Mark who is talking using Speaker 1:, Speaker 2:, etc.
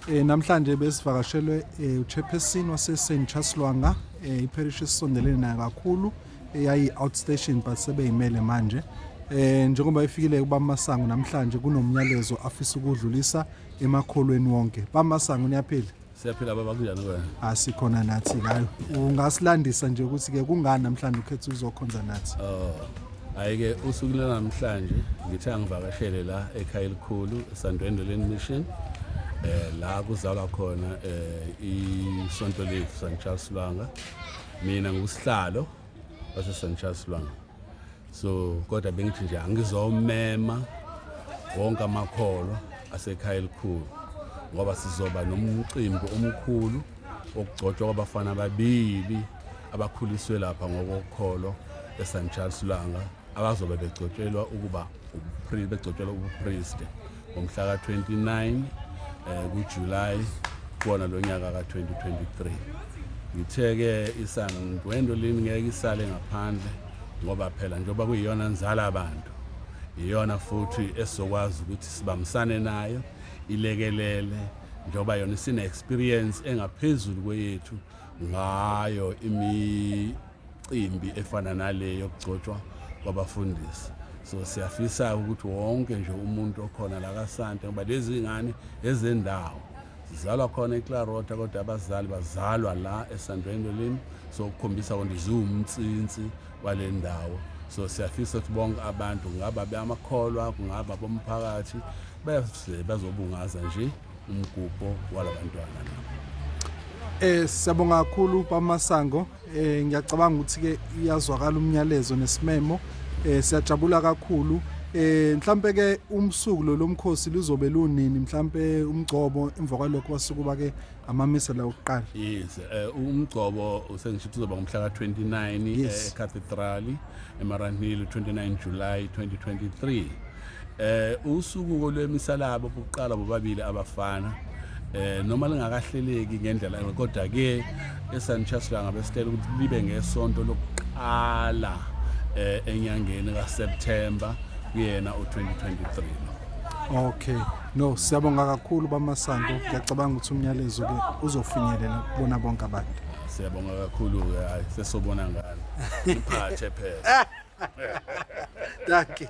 Speaker 1: Eh namhlanje besivakashelwe eh, uchairperson wase St Charles Lwanga eh, iparish esondelene nayo kakhulu eyayi eh, outstation but sebeyimele manje eh njengoba ifikile kubamasango namhlanje kunomnyalezo afisa ukudlulisa emakholweni wonke bamasango niyaphila siyaphila baba kunjani
Speaker 2: wena asikhona ah, nathi
Speaker 1: ngayo ungasilandisa nje ukuthi ke kungani namhlanje ukhetha uzokhonza nathi oh Hhayi-ke
Speaker 2: usuku lwanamhlanje ngithe angivakashele la ekhaya elikhulu esandwendeleni mission eh la kuzalwa khona eh isonto lethu St Charles Lwanga mina ngusihlalo base St Charles Lwanga so kodwa bengithi nje angizomema wonke amakholwa asekhaya elikhulu ngoba sizoba nomcimbi omkhulu okugcotshwa kwabafana ababili abakhuliswe lapha ngokokholo eSan Charles Langa abazobe begcotshelwa ukuba begcotshelwa ubupriest ngomhla ka-29 eh kuJuly kuona lonyaka ka-2023 ngithe-ke isandwendo lini ngeke isale ngaphandle ngoba phela njengoba kuyiyona nzala abantu iyona futhi esizokwazi ukuthi sibambisane nayo ilekelele njengoba yona isine-experience engaphezulu kweyethu ngayo imicimbi efana nale yokugcotshwa kwabafundisi so siyafisa ukuthi wonke nje umuntu okhona la kasante ngoba lezi ngane ezendawo zizalwa khona eclarota kodwa abazali bazalwa la esandweni lolimi so ukukhombisa konto ziwumtsinsi wale ndawo so siyafisa ukuthi bonke abantu ngaba beyamakholwa kungaba bomphakathi bese bazobungaza nje umgubho walabantwana Eh siyabonga kakhulu
Speaker 1: bamasango eh ngiyacabanga ukuthi ke iyazwakala umnyalezo nesimemo eh siyajabula kakhulu eh mhlambe ke umsuku lo lomkhosi lizobe lunini mhlambe umgcobo emva kwalokho basuku bake amamisa la ukuqala yes eh
Speaker 2: umgcobo usengisho uzoba ngomhla ka29 eCathedral eMaranhill 29 July 2023 Eh usuku lwemisalabo bokuqala bobabili abafana eh noma lingakahleleki ngendlela kodwa ke eSanchas langa besitela ukuthi libe ngesonto lokuqala eh enyangeni kaSeptember kuyena u2023 Okay
Speaker 1: no siyabonga kakhulu bamasango ngiyacabanga ukuthi umnyalezo ke uzofinyelela kubona bonke abantu Siyabonga kakhulu
Speaker 2: ke hayi sesobona ngani iphathe
Speaker 1: phela
Speaker 2: Dankie